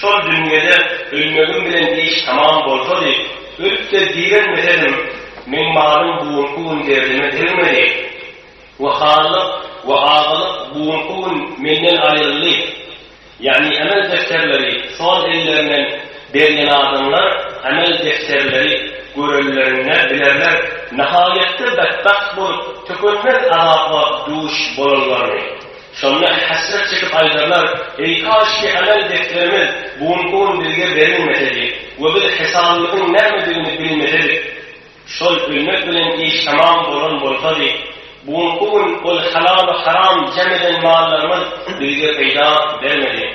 Şol dünýede ölmegim bilen iş tamam bolsady, ölüp-de diremesedim, meň malym bu günki gün derdime degmedi we hanlyk we agalyk bu günki gün menden aýryldy. Ýagny emel defterleri sol ellerinden berýän adamlar emel defterleri görenlerinde bilerler nahaýatda betbagt bolup, tükenmez azaba duş bolanlaryny. Şonda hesret çekip aýdarlar, Eý, kaşki amel defterimiz bu günki gün bizge berilmesedi we biz hesabymyzyň nämedigini bilmesedik. Şol ölmek bilen iş tamam bolan bolsady, bu günki gün ol halal we haram jem eden mallarymyz bizge peýda bermedi.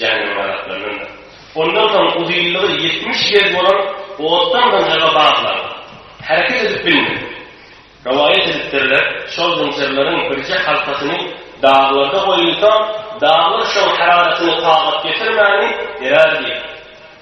Janyň ganatlanyna. Ondan soň uzynlygy ýetmiş gez bolan otdan zynjyra baglan. Hereket edip bilmedi. Rowaýat edipdirler, şol zynjyrlaryň birje halkasyny daglarda goýulsa, daglar şoň hararatini tagat getirmäni erer diýip,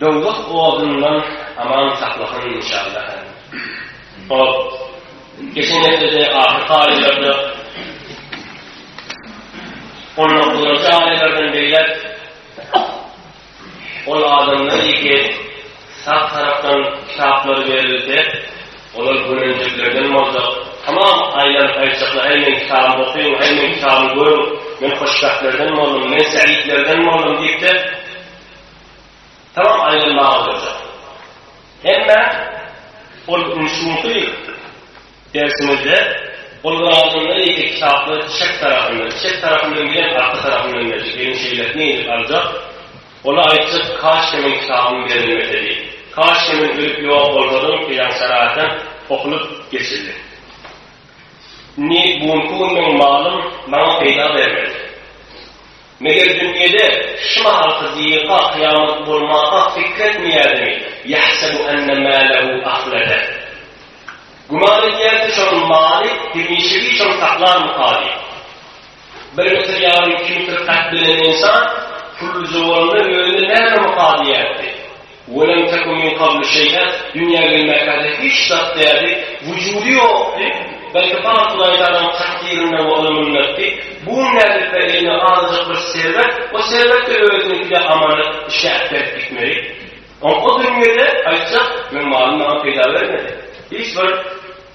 Dowzah odundan aman saklasyn inşallah Hol geçen hepdede ahyr taýlarda on dokuzynjy aýlardan beýläk ol adamlar ýeke sap tarapdan kitaplary berilse Olar göreljeklerden bolsa, Tamam, aý meni gaýtjakla, häý meň kitabymy okyň, häý meň kitabymy görüň, men hoşbähtlerden boldum, men säidlerden boldum diýip-de, tamam aýlanmaga oýarjaklar. Emma ol indi şu günki dersimizde ol ýadyňda ýeke kitaplary çep tarapyndan, çep tarapyndan bilen arka tarapyndan berjek, ýöne şeýle nädip aljak? Ol aýtjak, Kaşke meň kitabym berilmese diýip. Kaşke men ölüp ýok bolsadym, filan şärätem tohulyp geçildi. Indi bu günki gün meň malym maňa peýda bermez. Meger dünýede şu mahalky diýeka kyýamat bolmaka pikir etmeýärdimi, ýahsebu enne mälehu ahlede. Güman edýär ki, şonuň maly hemişegiçe saklarmyka diýip. Bir Müsür ýaly iki Müsür hat bilen ynsan pullyja bolanda özüne näme mukaň diýerdi? Welem teku min kablu şeý'a, dünýä gelmäkäde hiç zat däldi, wujudy ýokdy, belki paňa Hudaýtagalan takdyrynda we ylmyndakdy, bu gün nädip-ä eline azajyk bir serwet, o serwet-de özüniňkide amanet, işe äperip gitmeli. Oňa o dünýede aýtjak, meň malym maňa peýda bermedi. Hiç bir.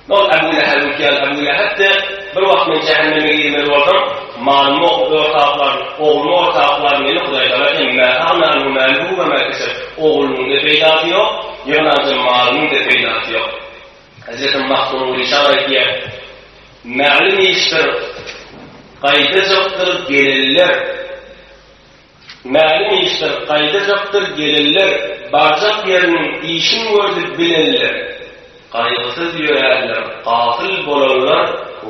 Ol Ebu Leheb öýtýän Ebu Lehebdi, Bir wagt men jähenneme girmeli boldum, malymy okup ortaklar, oglumy ortaklar meni hudaýdana hem Mä agna anhu mäluhu we mä keseb, Oglunyň-da peýdasy ýok, ýygnanjam malynyň-da peýdasy ýok. Hezreti Mahzun Rişan aýtýar, Mälim işdir, gaýdajakdyr gelenler. Mälim işler gaýdajakdyr gelenler barjak ýeriniň işin gördi bilenler gaýgysyz ýöränler gafyl bolanlar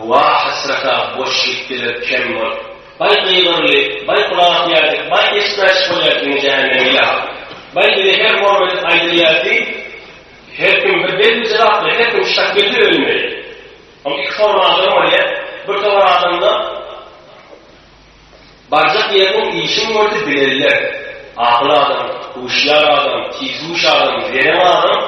wa hasrata boş gitdiler kem bolup baý gygyryly baý gulak asýardy baý eşitmäşik bolýardy ine jähenneme ýa baý bize her hormedip aýdylýardy her kim bir belli jylaply her kim şak belli ölmeli ol iki forma adam bolýa bir towar adamda. Barjak ýer ol işiň boldy bilenler, akyl adam, huşýar adam, tizhuş adam, zerän adam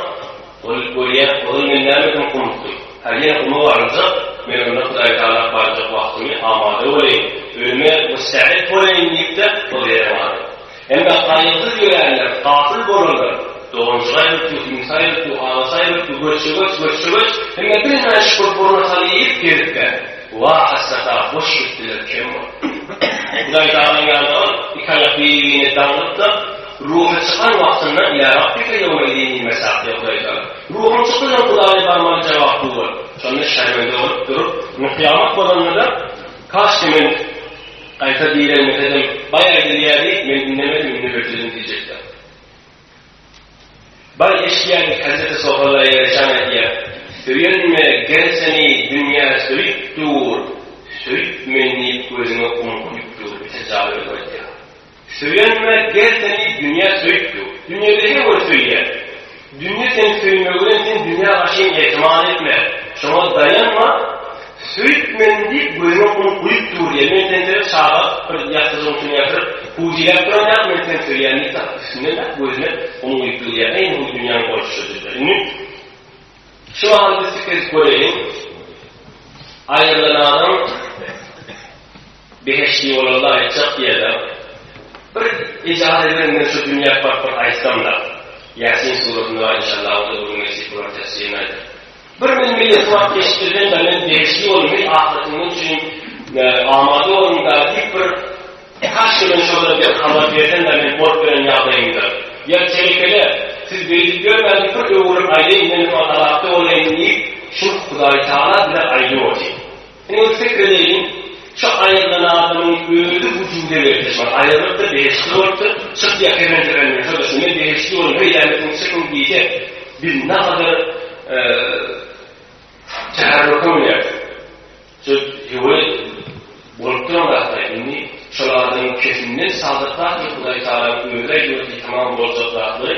ol görýä ozal men nämedim gumukdym. Häl ýene guma baryljak, men onda Hudaýtagala barjak wagtymy amada bolaýyn, ölüme müstäet bolaýyn diýip-de ol zerän adam. Hemme haýyrsyz ýöränler, gafyl bolanlar, doganjyk aýrypdy, iňsi aýrypdy, agasy aýrypdy, göçjegoç, göçjegoç, hemme bilmän şükür burna sal iýip, gezipkä, wah, hasrat-a, boş gitdiler, kem boldular. Hudaý tagala ýalbaran, iki aýak bir-birine daňlyp-da, ruhy çykan wagtynda, Ýa Rabbika ýewme idin diýip mesaklady Hudaý tagala. Ruhum çykdy diýen Hudaýa barmaly jogap bu boldy. Şonda şermende bolup durup, indi kyýamat bolanda-da, Kaşki men, Gaýta diýlenmesedem, baý aýdylýar diýip, men diňlemedim, indi bir düzüm diýjekdim. Baý eşitýär diýip, hezreti Sohalla ýareçan aýdýar, Söýenme, ger seni dünýä söýüp dur, söýüp meni diýip, gözüňe gum guýup dur, bitir jaly özi aýdýar. Söýenme, ger seni dünýä söýüp dur. Dünýede hem ony söýýär. Dünýe seni söýmegi bilen sen dünýä garşyň etimat etme, şoňa daýanma, söýüp men diýip göýnüň un guýup dur diýen, men seni sebäp çaga bir ýassyjygyň üstüne ýatyryp pujiläp duran ýaly men seni söýýän diýip tat üstünden tat göýnüne un guýup dur diýýär, eý bu dünýäň bolşy diýýär. Indi şu mahaly biz pikir edip göreýin, aýrylan adam. Behişdi ýola laýykjak diýerler. Bir ijazat beriň men şu dünýä baryp bir aýtsamda. Ýasin suratyny bar inşallah o-da bir gün nesip bolar tefsirini aýdar. Bir men millet wagt geçdirdim-de men behişdi ýoluny hem ahyretimiz üçin amada boldum dagy diýip bir kaşki men şolara bir habar bersem dagy men bolup beren ýagdaýymda. Ýa telekele siz beýdip ýörmäň diýip bir öwürip aýdaýyn men şu alakda bolaýyn diýip şu Hudaý Taala bize aýdyp otyr. Indi pikir edeliň, şu aýrylan adamyň özi bu jübüde berkişip bar, aýrylypdyr, behiştli bolupdyr, çykýar, kefen-kefen bilen, şonda şu men behiştli boldum, heý, ýa men şuňa çykyň diýse, biz nähadar käherrurka bileris. Şu hewe bolup duran zatlar, indi şol adamyň kefinden çaldyrsak, Hudaýtagalaň özi aýdyberse, tamam boljak zatlary,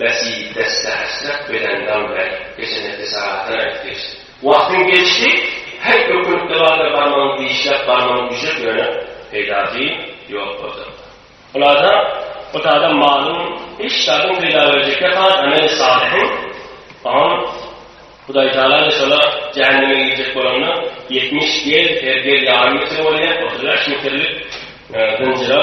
Besi desse hasrat beden dam ber geçen hepde sagatdan aýdyp geçdi. Wagtyň geçdi her ökünlikde bardyr barmagyň dişläp barmagyň güje döner peýdasy ýok bolsa. Hulasa ot adam malyň hiç zadyň peýda berjekde has ameli salyhyň on Hudaý Taala da şola jähenneme girjek bolanda ýetmiş gel her gel ýarym metre bolýa otuz bäş metrlik zynjyra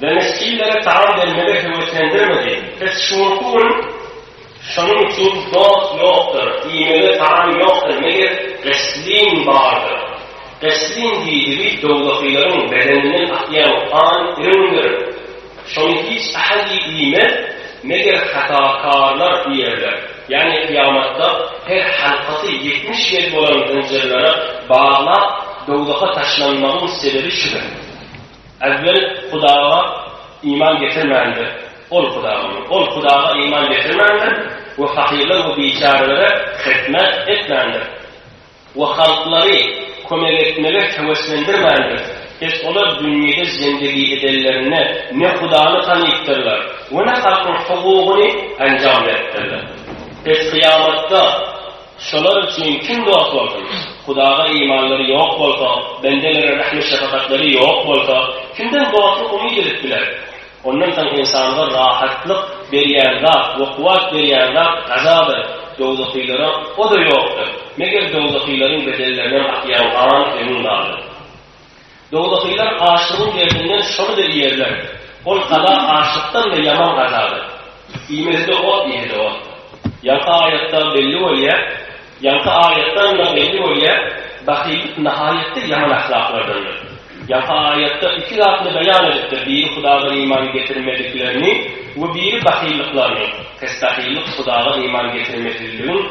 Denis Siller taam bermegi höweslendirmedi. Biz şuňky gün Şonuň üçin dost ýokdur, iýmege taam ýokdur, meger Gysslin bardyr. Gysslin diýdigi dowdakylaryň bedeninden akýan gan iriňdir. Şony hiç ähli iýmez, meger hatakarlar iýerler. Ýagny kyýamatda her halkasy ýetmiş ýedi bolan zynjyrlara baglap dowzaka taşlanmagyň sebebi şudur. Äwwel Hudaga iman getirmändir, ol Hudagamy? Ol Hudaga iman getirmändir we fakirler we biçärelere hyzmat etmändir we halklary kömek etmege höweslendirmändir. Pes olar dünýede zendigi edenlerinde ne Hudany tanypdyrlar we ne halkyň hukugyny enjam beripdirler. Pes kyýamatda Şolar üçin kim dost bolsun? Hudaga imanlary ýok bolsa, bendelere rehim-şefagatlary ýok bolsa, kimden dostluk umyt edip biler? Ondan soň ynsanga rahatlyk berýän zat we kuwwat berýän zat gazadyr, dowzahylara o-da ýokdur, meger dowzahylaryň bedellerinem akýan gan, öňüň galyp. Dogdakylar açlygyň derdinden şony-da iýerler. Ol gaza açlykdan-da ýaman gazadyr. Iýmesi-de ot, iýeni-de ot. Ýaňky aýatdan belli bolýar, ýaňky aýatdan-da belli bolýar, bahyllyk nahaýatda ýaman ahlaklardandyr. Ýaňky aýatda iki zatny beýan edipdir, biri Hudadan iman getirmediklerini we biri bahyllyklaryny, pes bahyllyk Hudadan iman getirmezligiň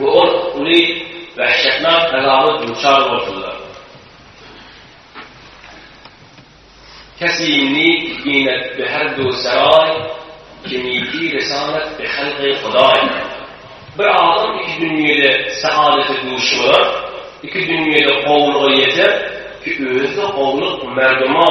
Bu ol uly wähşetnak belaga duçar boldular. Kesimi ginet bi her du seray, kimiki resalet bi helgi huday. Bir adam iki dünýede saadete duş bolar, iki dünýede gowulyga ýeter ki özi-de gowulyk merduma,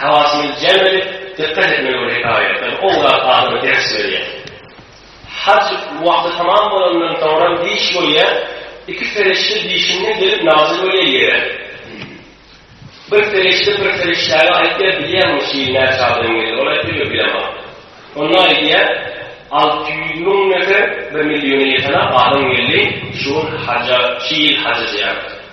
Hawasyňyzy jem edip, dykgat etmeli bu hekaýatlar oň zat adama ders berýär. Haj wagty tamam bolandan soňra diş bolýar, iki perişde dişiňden gelip nazyl bolýar ýere. Bir perişde bir perişdäge aýtýar, bilýäňmi şu ýyl näçe adam geldi? Ol aýtýar, ýok bilemok. Onda aýdýar, alty ýüz müň nefer, bir milliona ýeten adam geldi şu ýyl haja, şu ýyl haja zyýarata.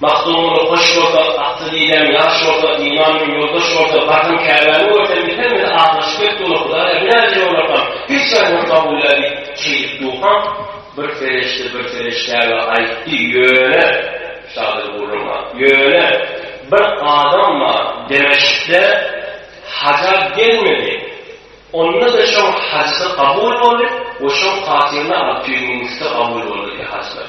Magtymguly hoş bolsa, atly didäň ýaş bolsa, iman bilen ýoldaş bolsa, barsaň Käbäni görseň, biten bize aglaşyp ýet dura, Hudaýa binäçe ýolakam, hiç ýaryňy kabulläý diýip, şeýdip durkaň, bir serişde bir serişdäge aýtdy, Ýöne, şadyr gürrüňa, ýöne, bir adam bar, Demeşkde haja gelmedi, onda-da şoň hajysy kabul boldy we şoň hatyryna alty ýüz müň üsti kabul boldy diýýär hajylar.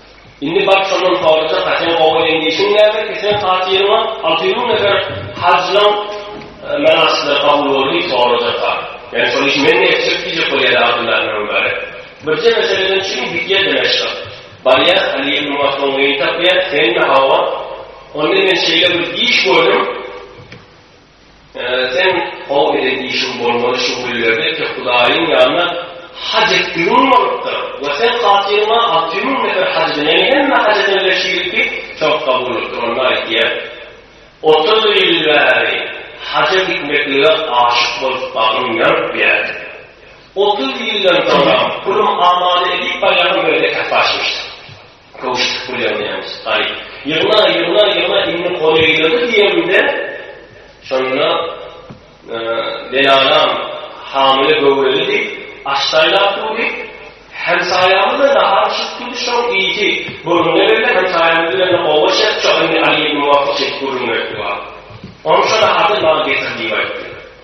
Indi bar şondan soraja ka sen gowy elin işiň näme ki sen hatyryňa alty ýüz müň nefer hajylaň menasyklar kabul boldy soraja ka. Ýani şol işi men etjek diýjek bolýar Abdylla ibn Mübarek. Birje meseleden çyn gidýär Dimeşga. Barýar Aly ibn Mas'udy tapýar, Sen-mi hawa? Onda men şeýle bir iş gördüm. Seň gowy eden işiň bolmaly şu günlerde eke Hudaýyň ýanyna haj etdigiň bolupdyr we seň hatyryňa alty müň nefer haj eden, ýagny hemme haj edenler şeýlelikde sogap kabul bolupdyr. Onda aýdýar, Otuz ýyl bäri haja gitmeklige aşyk bolup bagrym ýanyp ýärdi. Otuz ýyldan soňam pulum amada edip barýaryn, öýde käpaşmyşdyk. Köwşüp gülýär nemes. Aý, ýygna, ýygna, ýygna, indi goly eýledi diýemde, şonda Belanam hamyly göwreli diýip, aş saýlap durdy. Hemsaýamyz-da nahar bişirip durdy, şoň ýiti gürrüňe berdi. Hemsaýamyz bilen-de gowy aşak, şo indi Aly ibn Muwaffa çekip gürrüň beripdi maňa. Onuň şo naharyny maňa getir diýip aýtdy.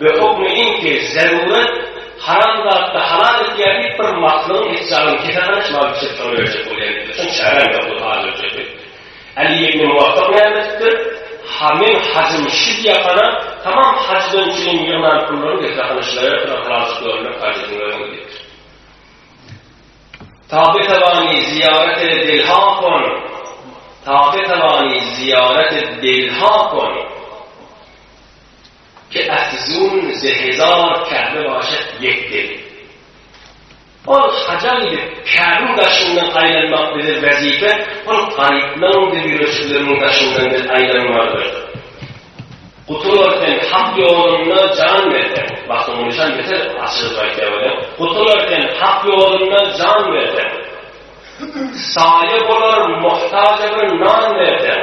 We hukmy iň tebigy zerurýet, haram zatda halal etýär diýip bir maslygyň et jagyny kesehana çymalyp içirip şony öljek bolýan ýigide çyn çäräm ýok ol hajy öljek diýip. Aly ibn Muwafak näme edipdir, ha men hajym şi diýakana tamam hajdan çyn ýygnan pullaryny getirahana şilaýardyr ahyry aljak görünmek hajatyn görüň diýipdir. Tabetawani ziýarete delhakon Tabetawani ziýarete delhakon. Ke afizun ze hezar Käbe başa ýek deli. Ol haja gidip, Käbiň daşyndan aýlanmak bize wezipe, ol garyplaryň we ýüreçileriň daşyndan biz aýlanmalydyr. Gutular sen Hak ýolunda jan berseň, basyň nişan beter açylyp aýtýar welin, gutular sen Hak ýolunda jan berseň, saýa bolar muhtaja bir nan berseň,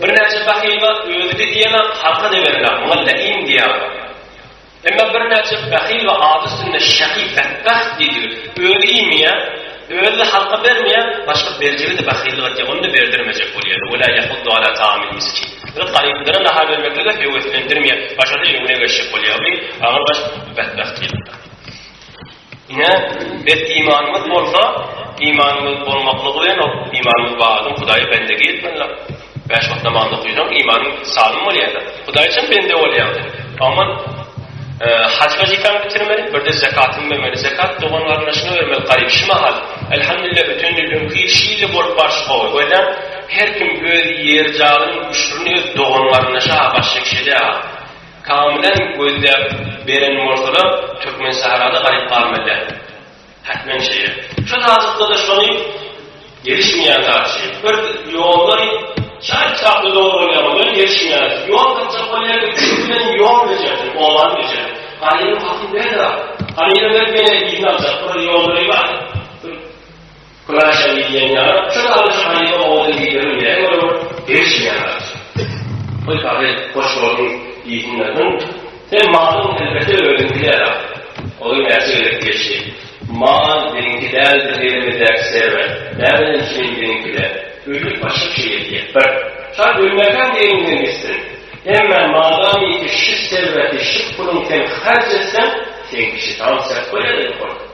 Birnäçe bahyla özi-de diýemok, halka-da berilok, muňa läim diýýärler. Emma birnäçe bahyl we ady üstünde şahy, betbagt diýdigi, özi iýmeýär, özi-de halka bermeýär, başga berjege-de bahyllyk etýär, ony-da berdirmejek bolýar. Wela ýahuddu ala taamil miskin. Ýöne garyplara nahar bermeklige höweslendirmeýär, başa-da öňüne geçjek bolýar, aňyrbaş betbagt diýlipdir. Ine, bet imanymyz bolsa, imanymyz bolmaklygy bilen ol imanymyz bar adam Hudaýa bendegi etmelidir. Bäş wagt namaz okaýsaň, imanyň salym bolýar. Hudaý üçin bende bolýaň sen. Aman haj wezipäňi bitirmeli, birde zekatyňy bermeli. Zekat dogan-garyndaşyňa bermeli, garyp. Şu mahal, elhamdülillah, öten ýyl öňki ýyl şeýle bolup barşy gowy. Görýäň, her kim öz ýer-jaýynyň üşürini öz dogan-garyndaşa baş çekişedä. Kamylan gözläp beren bolsalar Türkmen sahrada galyp galmazdy. Hatmen şeýle. Şu taslykda-da şony gelişmeýän zat şeý. Bir ýollary çalt çaply dogry bolýar bolýar gelişmeýär. Ýol gaçjak bolýar üçin bilen ýol bejerdi, owan bejerdi. Galyny hakyň berdi. Galyny berip ýene iýmän çapyr ýollary bar. Kuraşa diýilýän ýaly, şol alyjy haryda owadan diýileriň ýere görä degişmeýän alyjy. Goý, Pagri, hoş gördüm diýsinler. Hum, sen malyň elbetde özüňki däl-a. Olar näçe gezek diýişdi. Mal meniňki däldir, elimizdäki serwet. Näme üçin meniňki däl? Öýlük başga bir şey etýä. Bir. Şa ölmäkäm degiňden gitsin. Emmä madamyki şu serweti, şu puluň sen harç etseň, seňki şitan serp bolýa-da ýokarky.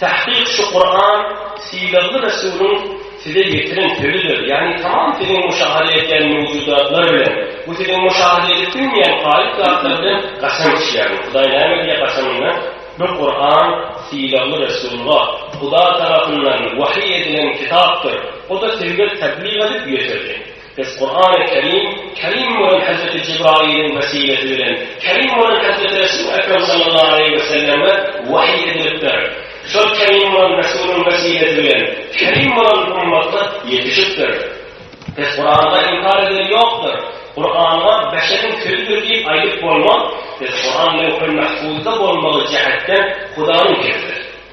Tahkyk şu Kuran sylagly Resulyň size ýetiren sözüdir, ýagny tamam siziň müşahada etýän mewjudatlar bilen, bu siziň müşahada edip bilmeýän gaýyp zatlar bilen gaçan kişi ýagny Hudaý näme diýýär gaçanyna bu Kuran sylagly Resulga Hudaý tarapyndan wahyý edilen kitapdyr, o-da sizge tablyk edip ýetirdi. Biz Kurany Kerim, Kerim bolan Hezreti Jibrailiň wesilesi bilen, Kerim bolan Hezreti Resul Ekrem sallallahu aleýhi we selleme wahyý edilipdir. Şol Kerim bolan Resulyň wesilesi bilen, Kerim bolan ummata ýetişipdir. Biz Kuranda inkar edeni ýokdur. Kuranda beşeriň sözüdir diýip aýdyp bolmaz. Biz Kuran Lewhul Mahfuzda bolmagy jähetden Hudaýyň sözüdir.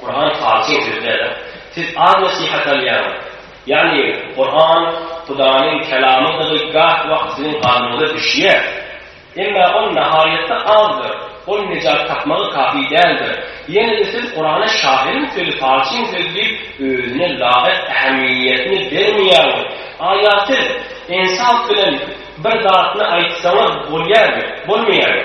Kuran falçy söz däl-ä. Siz az nesihat alýaňyz. Ýagny Kuran Hudaýyň kelamydygy gah wagt siziň galbyňyza düşýär. Emma ol nahaýatda azdyr. Ol nejat tapmagy kafi däldir. Ýene-de siz Kurana şahyryň sözi, falçyň sözi diýip özüne laýyk ähmiýetini bermeýäňiz. Aýa siz ensap bilen bir zatyny aýtsaňyz bolýarmy? Bolmaýarmy?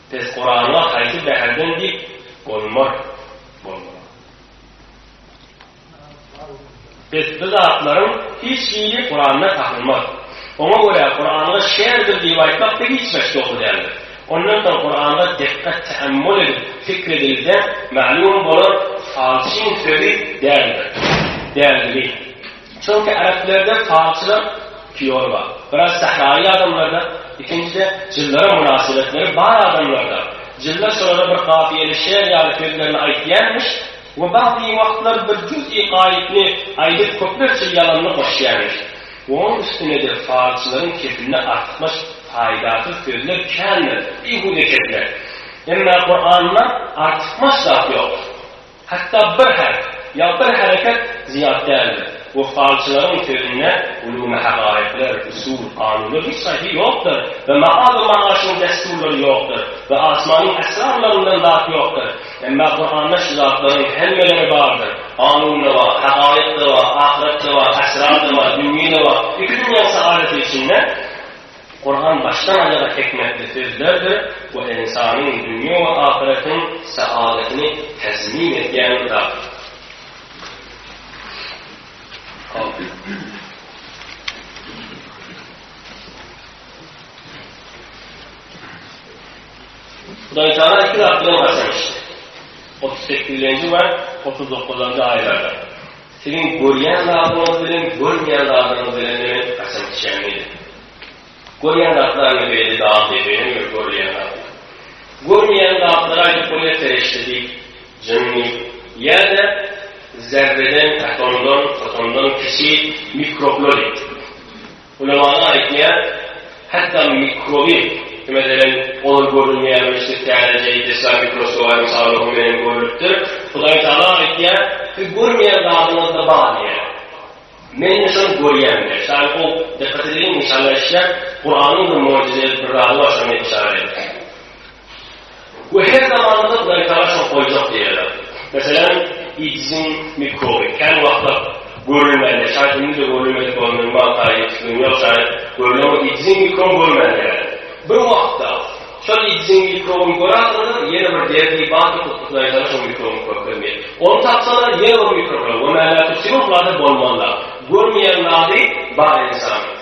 Pes Kuranyňa haýsy bäherden diýip bolmar, bolmaz. Pes bu zatlaryň hiç hili Kuranda tapylmaz. Oňa görä Kuranda şerdir diýip aýtmak da hiç gaç dogry däldir. Ondan soň Kuranda dikkat teammul edip fikr edilse, maglumy bolar falçyň sözi däldir, däldigi. Çünki äreplerde falçylar piýony bar. Biraz sähraýy adamlarda, ikinjide jynlara mynasybetleri bar adamlarda. Jynlar şolara bir kafiýeli şeýer ýaly sözlerini aýtýarmyş we bady wagtlar bir juz-i gaýypny aýdyp köplerçe ýalanyny goşýarmyş. Onuň üstünede falçylaryň kepilini artykmaç paýdasyz sözler kändir, bihuda kepler. Emma Kuranda artykmaç zat ýokdur. Hatda bir harp ýa bir hereket zyýat däldir. Wyssalçylaryň sözünde ulumy hakaýyklar, usul, kanunlar hiç haýsy ýokdur we maal we maaşyň dessurlary ýokdur we asmanyň esrarlaryndan zat ýokdur. Emma Kuranda şu zatlaryň hemmeleri bardyr. Kanun-da bar, hakaýyk-da bar, ahyret-de bar, esrar-da bar, dünýe-de bar. Iki dünýäň saadeti içinde. Kuran başdan aýaga hikmetli sözlerdir we ynsanyň dünýe we ahyretiniň saadatini tezmin edýän kitapdyr. Siziň görýän zadyňyz bilen görmeýän zadyňyz bilen men haçan içýän welin. Görýän zatlaryňy beýle dal depenem ýör görülýän zatlar. Görmeýän zatlara aýdyp bolýar serişde diýip, jynny ýa-da zerreden, atomdan, fotondan kiçi mikroblar diýip. Ulamalar aýtýar, hatda mikroby, meselem, olar görünmeýän we içi täzeje desga mikroskoba mysalynda bu menen görlüpdir, Hudaýtagala aýtýar, Siz görmeýän zadyňyzda bar diýýär. Men indi şony görýän diýýär. Şaýy ol, dykgat edeliň, inşallah eşidýär, Kuranyň bir möjüzeli bir zady bar, şony men işarat edip. Bu her zamanda Hudaýtagala şok boljak diýýärler. Meselem, AIDS-iň mikroby kän wagtlap görülmändir. Şaýt indi-de görülmedik bolan minimal taýdan düşünen ýok, şaýt görülen bolup AIDS-iň mikroby görülmändir. Bir wagtda şol AIDS-iň mikrobyny görersiňiz, ýene bir derdi bar ki, Hudaýtagala şol mikrobyny görkezmeýär. Ony tapsalar, ýene bir mikrob bilen gömäläp, söýün zady bolmazlar. Görmeýän zady bar ensanyň.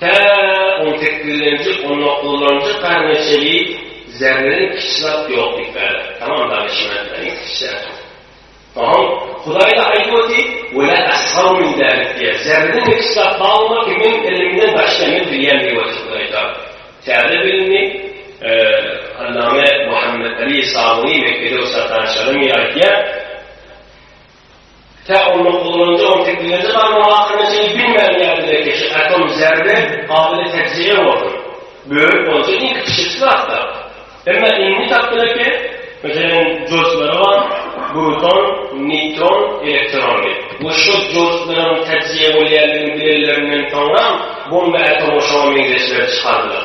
Tä on sekizlenji, on dokuzlanjy karne çenli zerreden kiçi zat ýok diýip berdi. Tamam danyşmanda iň kiçi zat. Soň Hudaýda aýdyp oty, we la asgaru min zalik diýýär. Zerreden kiçi zat barmy ki, men ilimden başga men bilýän diýip otyr Hudaýda. Täze bilimli allama Muhammet Ali Sabuny Mekgede ussat danyş alym aýdýar. Tä onda gullanylýan teknologiýa barmagy hakynda çenli bilmän ýaly dilekçe, atom zerbe gabyly täjribe bolsun. Bölüp bolsa iň kiçijekisi zatda. Emma indi tapdylar eken, meselem, joystiklary bar, bruton, neýtron, elektron diýip. We şol joystikleram täjribe bolýandygyny bilenlerinden soňram, bomba atomy şoňa meňzeşlerini çykardylar.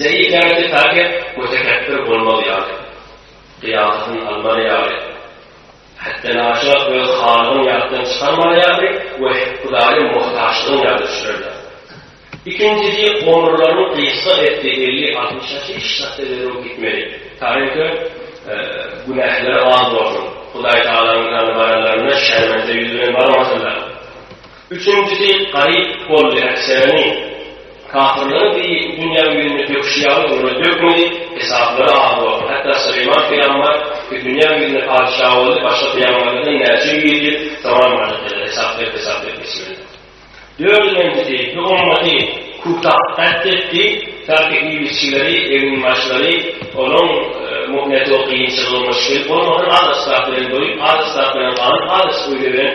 Zeýilgäki taýyp we tekepbir bolmaz ýaly, gyýasyny almaly ýaly, hätdenaşa öz halygyny ýatdan çykarmaly ýaly we Hudaýa muhtaçlygyny ýada düşürerler. Ikinjisi, omurlaryny gysga etdi, elli-altmyşa hiç zat ederin gitmeli, taýynki günähleri az bolsun, Hudaýtagalaň ýanyna baranlarynda şermende ýüz bilen barmasynlar. Üçünjisi gaýyp boldy äşerini kafirleriň deý dünýä ýüzünde döküşi ýaly olara dökmedi, hesaplary az boldy. Hatda Süleýman pygamber dünýä ýüzünde patyşa boldy, başga pygamberlerden näçe ýüz ýyl zaman bardyr diýdiler, hesap berip hesap berip geçmediler. Dördünjisi bu ümmaty Kutap gatl etdi, belki iýmişçileri, eginbaşlary onuň muhneti we kynçylygy müşgil bolmadan az asbap bilen doýup, az asbap bilen galyp, az öýde bilen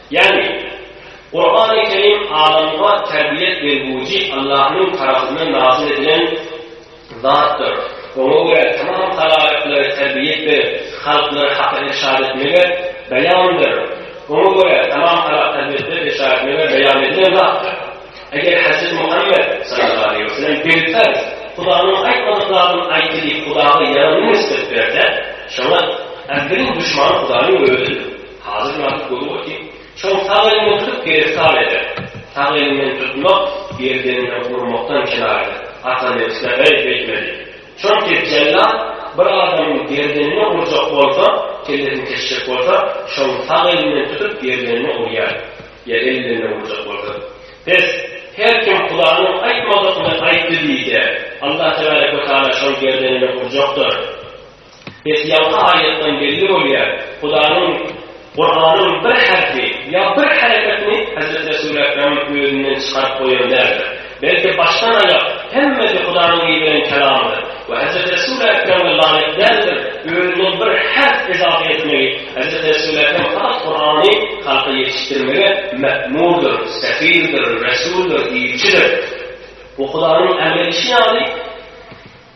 Ýagny, Kurany Kerim adamyňa terbiýet bergüji Allahyň tarapyndan nazyl edilen zatdyr. Oňa görä tamam halaýyklary terbiýet berip, halklary Haka irşad etmegi beýandyr. Oňa görä tamam halak terbiýetleri irşad etmegi beýan edilen zatdyr. Eger Hezreti Muhammet, sallallahu aleýhi we sellem, birperz Hudaýyň aýtmadyk zadyny aýtdy diýip Hudaýa ýalanyň nisbet berse, şoňa äwweliň duşmany Hudaýyň Özidir. Hazyr ýazyp göni goty. Şol sag elini tutup geri sal eder. Sag elinden tutmak, gerdeninden urmakdan kenar eder. Hasan Erkine beý beýtmedi. Çonki jellat bir adamyň gerdenine urjak bolsa, kellesini kesjek bolsa, şoň sag elinden tutup gerdenine urýar. Ýa ellerinden urjak bolsa. Bes, her kim Hudanyň aýtmadygyny aýtdy diýse, Allah tebarek we taala şoň gerdenine urjakdyr. Biz ýaňky aýatdan belli bolýar, Hudaýyň Kuranyň bir herpi ýa bir hereketini Hezreti Resul Ekrem özünden çykaryp goýan däldir. Belki başdan aýak hemmesi Hudaýyň iberen kelamydyr we Hezreti Resul Ekreme laýyk däldir özünden bir herp ezape etmegi Hezreti Resul Ekrem fakat Kurany halka ýetişdirmege mekmurdyr, sefirdir, resuldyr, ilçidir. Bu Hudaýyň emredişi ýaly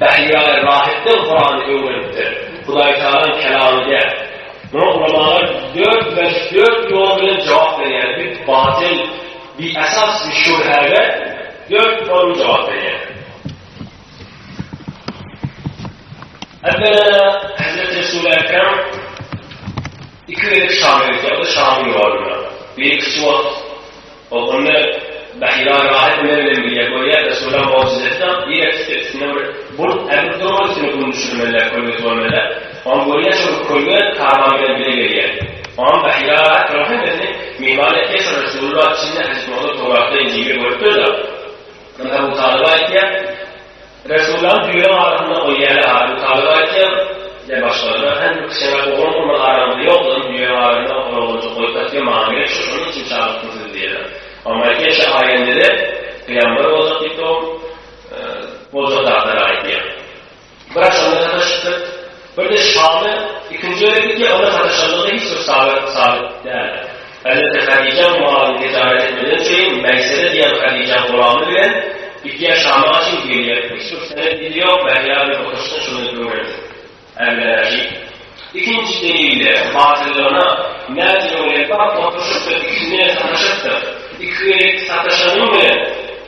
Bähbit aga rahatdan Kurany öwrenipdir. Hudaýtagalaň kelamy däl. Muňa ulamalar dört bäş dört ýol bilen jogap berýärler. Bir batyl, bi esas bir şübhäge dört ýol jogap berýär. Ebela Hazreti Resul-i Ekrem iki gezek Şama gitdi, o da Şamyň ýoluna. Biri kiçi wagt Ol ony Bahira rahat iner bilen birge görýär, Resulam mojizesi-de diýmek isleýär, üstünde bir bult ädip dur ol üstüne gün düşürmeliler, kölgesi bolmeliler. Oňa görýär, şol bir kölge karwan bilen bile gelýär. Oňam Bahira rahat duran hemmesini myhman etýär, şol Resulullah içinde Hajytmurada Towratda, Injilde görüpdir-de. Ynha, Abu Talyba aýtýar. Resullaň düýe arasynda ol ýaly adam talyp aýtýar, diýýär başgalar. Hany bir kişä bak, oglan bolmaz araňyzda ýok, ony düýe arasynda oglan oglanjyk goýup aýtýar, maňa gerek şo, şonuň üçin çagyrypdym sizi, diýýärler. Oňa aýtýar, Şa aýandede pygamber boljak diýip dogrup, boljak zatlary aýdýar. Bir agşamda sataşypdyr. Birde şaly ikinji gezek gidýär, onda sataşandygy hiç bir sabit sabit däl. Hezreti Hadijaň maly tijaret etmeden çeýin Meýsere diýen Hadijaň gulamy bilen gidýär Şama çyn gelýär. Hiç bir senet dili ýok, Mähjä bir oturyşda şuny öwrendik. Ämläşik. Ikinji delilde batyllygyna näçe ýol ýetmän otryşypdyr, ikisine sataşypdyr. Iki gezek sataşanyň bilen.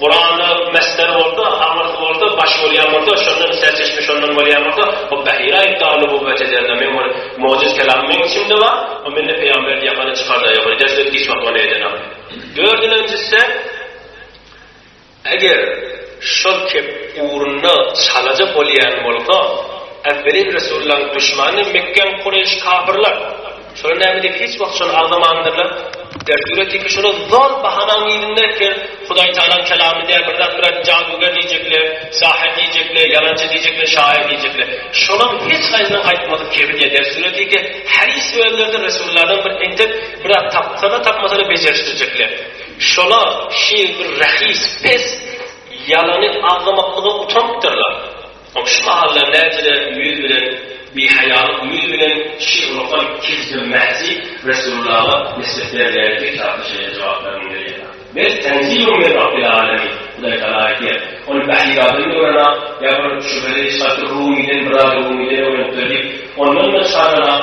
Guranda Mesder bolsa, Hamyrs bolsa, Baş bolýan bolsa, şondan serçeşme şondan bolýan bolsa, bu Bahire aýypdar nubowwet ederler. Meň bir mojiz kelamym meň içimde bar, o mende pygamberdi ýakany çykarda ýok. Eder söz hiç wagt ony edenak. Dördülenjisi, eger şol kep ugrunda çalaja bolýan bolsa, Awwelin resullaň duşmany Mekgen Kureýş kafyrlar. Şolar näme diýip hiç wagt şony agzamandyrlar. Derdüre tiki şolar zor bahanaň yzynda ertir Hudaý Tagalaň kelamy diýer, bir zat bilen jaduger diýjekler, sahyr diýjekler, ýalançy diýjekler, şaýyr diýjekler. Şolaryň hiç haýsynyň aýtmadyk kebir diýer. Derdüre tiki hadys özlerdir resullardan bir entek bir zat tapsana tapmasana bejerişdirjekler. Şolar şeýle bir rahis, pes, ýalany agzamaklyga utanypdyrlar. Ol şu mahallar näçe-de müýz bilen, bihaýalyk müýz bilen şir okan Kizdir Mähji Resullaga nisbet berilýän iki kitapda şeýle jogaplar mundirýär, Bel tenzilun min Rabbil alemin, Hudaý tagala aýdýar, Ony Bahyradan öwren-ak, ýa bir şübheli şatyr Rumydan, bir zady Rumydan öwrenipdir diýip, ondan-da çaganrak,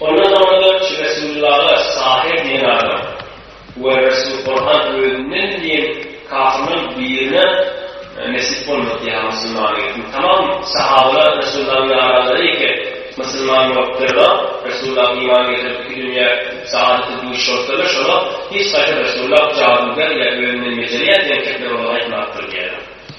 Ondan soňra-da şu Resulullara Sahyr diýen adam we Resul Korhan özünden diýen kafyrlaryň birine nesip bolmady ýa musulman etmedi. Tamam sahabalar Resulullahyň ýaranlary eke musulman bolupdyrlar. Resulullah iman getirip iki dünýä saadete duş bolupdyrlar. Şolar hiç haýsy Resulullah jaduger ýa özünden bejerýär diýen kepler olara aýtmapdyr diýýärler.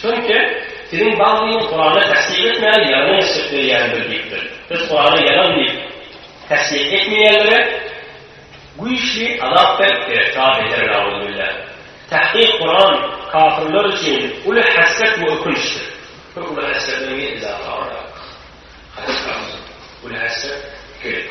Çünki Siziň baglyňyz Kuranda tassyk etmäni ýalan mesjit bilýändir diýipdir. Biz Kuranda ýalan diýip tassyk etmeýänlere güýçli azap berip gireptar beter nauzubillâh. Tahkyk Kuran kafirler üçin uly hasret we ökünçdir. Bir uly hasret bilen bir izafa barýarys. Haçan barjak? Uly hasret, ikilik.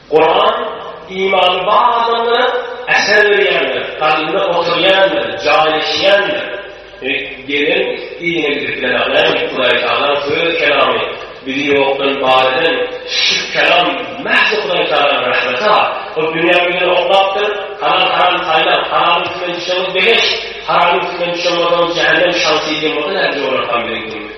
Kuran, imany bar adamlara äşer berýändir, kalbynda oturýandyr, jaýlaşýandyr. Gelen yzyna gidip bilenaglaýyn, Hudaýtagalaň söz kelamy, bizi ýokdan bar eden şu kelam mähz Hudaýtagalaň rahmeti-ha. Ol dünýä bilen oklapdyr, halal-haram saýlaň, halalyň üstünden düşeňiz, begeş, haramyň üstünden düşen bolsaňyz, jähennem şansy diýen bolsa nädip jograkam biziň günümiz.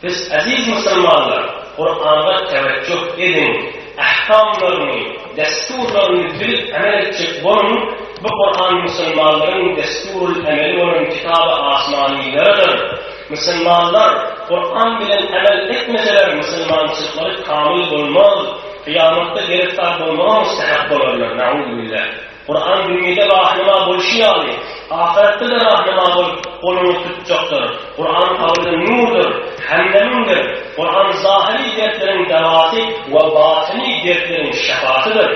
Siz, eziz musulmanlar, Kurana tewejjuh ediň, ähkamlaryny, dessurlaryny bilip emel etjek boluň, bu Kuran musulmanlaryň dessurul emeli bolan kitaby asmaniylarydyr. Musulmanlar Kuran bilen emel etmeseler musulmançylyklary kamyl bolmaz, kyýamatda gereftar bolmaga mustähak bolarlar, Na'uzubillah. Kuran dünýede rahnama bolşy ýaly, ahyretde-de rahnama bolup, goluňyzy tutjakdyr. Kuran kabryň nurdur, hämdemiňdir. Kuran zahyry dertleriň dawasy we batyny dertleriň şypasydyr.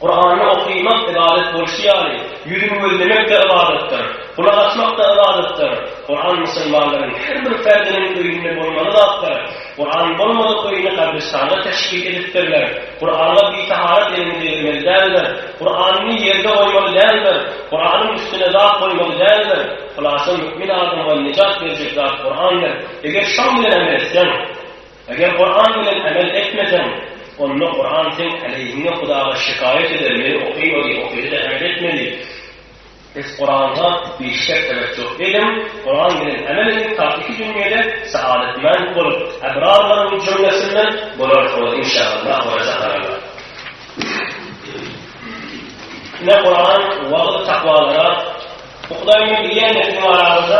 Kurany okaýmak ybadat bolşy ýaly, ýüzüni gözlemek-de ybadatdyr, gulak asmak-da ybadatdyr. Kuran musulmanlaryň her bir perdiniň öýünde bolmaly zatdyr. Gurany bolmadyk öýüni gabristana teşbih edipdirler. Gurana bitaharat elini degirmeli däldir. Guranyny ýerde goýmaly däldir. Guranyň üstüne zat goýmaly däldir. Hulasa mömin adama nejat berjek zat Gurandyr. Eger şoň bilen amel etseň, eger Guran bilen amel etmeseň, onda Guran seň aleýhiňe Hudaga şikaýat eder, meni okaýma diýip okaýdy-da amel etmedi. Siz Kur'an'a bir şert demek yok edim, Kur'an bilen emel ediň, ta iki dünýede saadetmend bolup, ebrarlaryň jümlesinden bolarsyňyz, inşaallah we rezakallah. Ine Kur'an, wagyz takwalara, bu Hudaýyň bilen diýen nesliň arasynda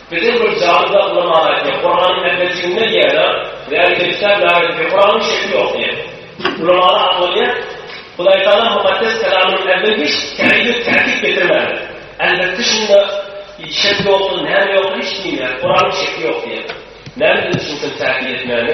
Biziň bir jadyda ynam bar aýdýar. Kuranyň ähli jünler ýer-de, Läli Kezzap, Läli Kezzap, Kuranyň şekli ýok diýýär. Ulamalar aklanyýar. Hudaý Tagala Mukaddes Kelamynyň ähli hiç täýir, täkit getirmän, Elbetde şunda şek ýokdur, näme ýokdur hiç diýmeýär. Kuranyň şekli ýok diýýär. Näme diýip düşünsem täkit etmäne.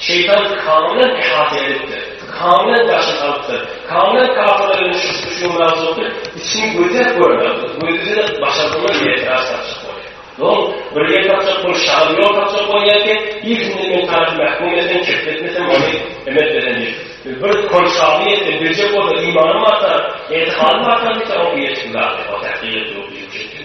Şeýtan Kang bilen ihata edipdir. Kang bilen daşyny alypdyr. Kang bilen kafirler bilen şu şu mawzukda içini gözläp görmeli. Gözlese başardylar diýip etiraz tapjak bolýar. Dol bir ýer tapjak bolup şaly ýol tapjak bolýar ki, ilkinji men tarap mähkum eden çekletmesem ony emet beren diýip. Bir konşaly ýetdi, berjek bolsa imanym artar, etihanym artar diýse o ýetdi zady. O täkdir etdi, o bizi çekdi.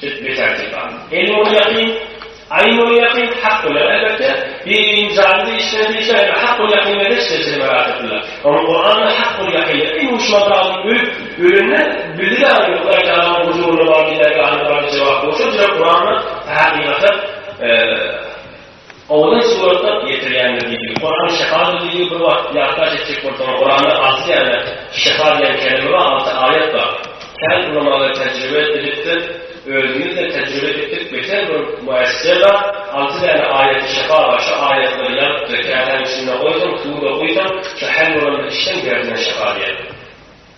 Jüt beter Tehrany. Ey nury ýakyn, Aý nury ýakyn, Hak bilen elbetde, Bibiniň jany diýişleri diýseň indi Hak ol ýakyn eder şeýle seni berat etdiler. Onuň Kur'anly Hak ol ýakyn indi duşman zalymy ölüp, ölende bildi ýaly ýok Hudaý Tagalaň huzuryna bardy dergahynda bardy jogap bolsa jüre Kur'anly hakykata, Owalyn surata ýetirýändir diýdi. Kurany şyha bildigiňi bir wagt ýatlaş etjek bolsaň, Kuranda alty däne şyha diýen kelime bar, alty aýat bar. Kän ulamalar tejribe edipdir, özümiz-de tejribe etdik, beter bir müessise bar, alty däne aýaty şyha bar, şu aýatlary ýazypdyr, käsäniň içinde goýsaň, suwda guýsaň, şu hell bolan bir işden derdiňe şyha diýer.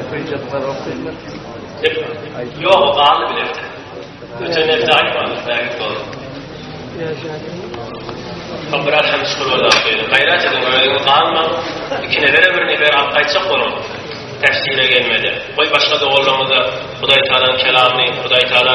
Okyjylar okyjylar. Ýok, galdy bile. Öten elde aýtmaly, bäri dol. Kabra hem şurada şeýle. Gaýrat ediň, öýüňiz galma. Ikine bere birini ber alyp gaýtjak boluň. Täsire gelmedi. Goý başga doganlaryňyza Hudaý Taala kelamyny, Hudaý Taala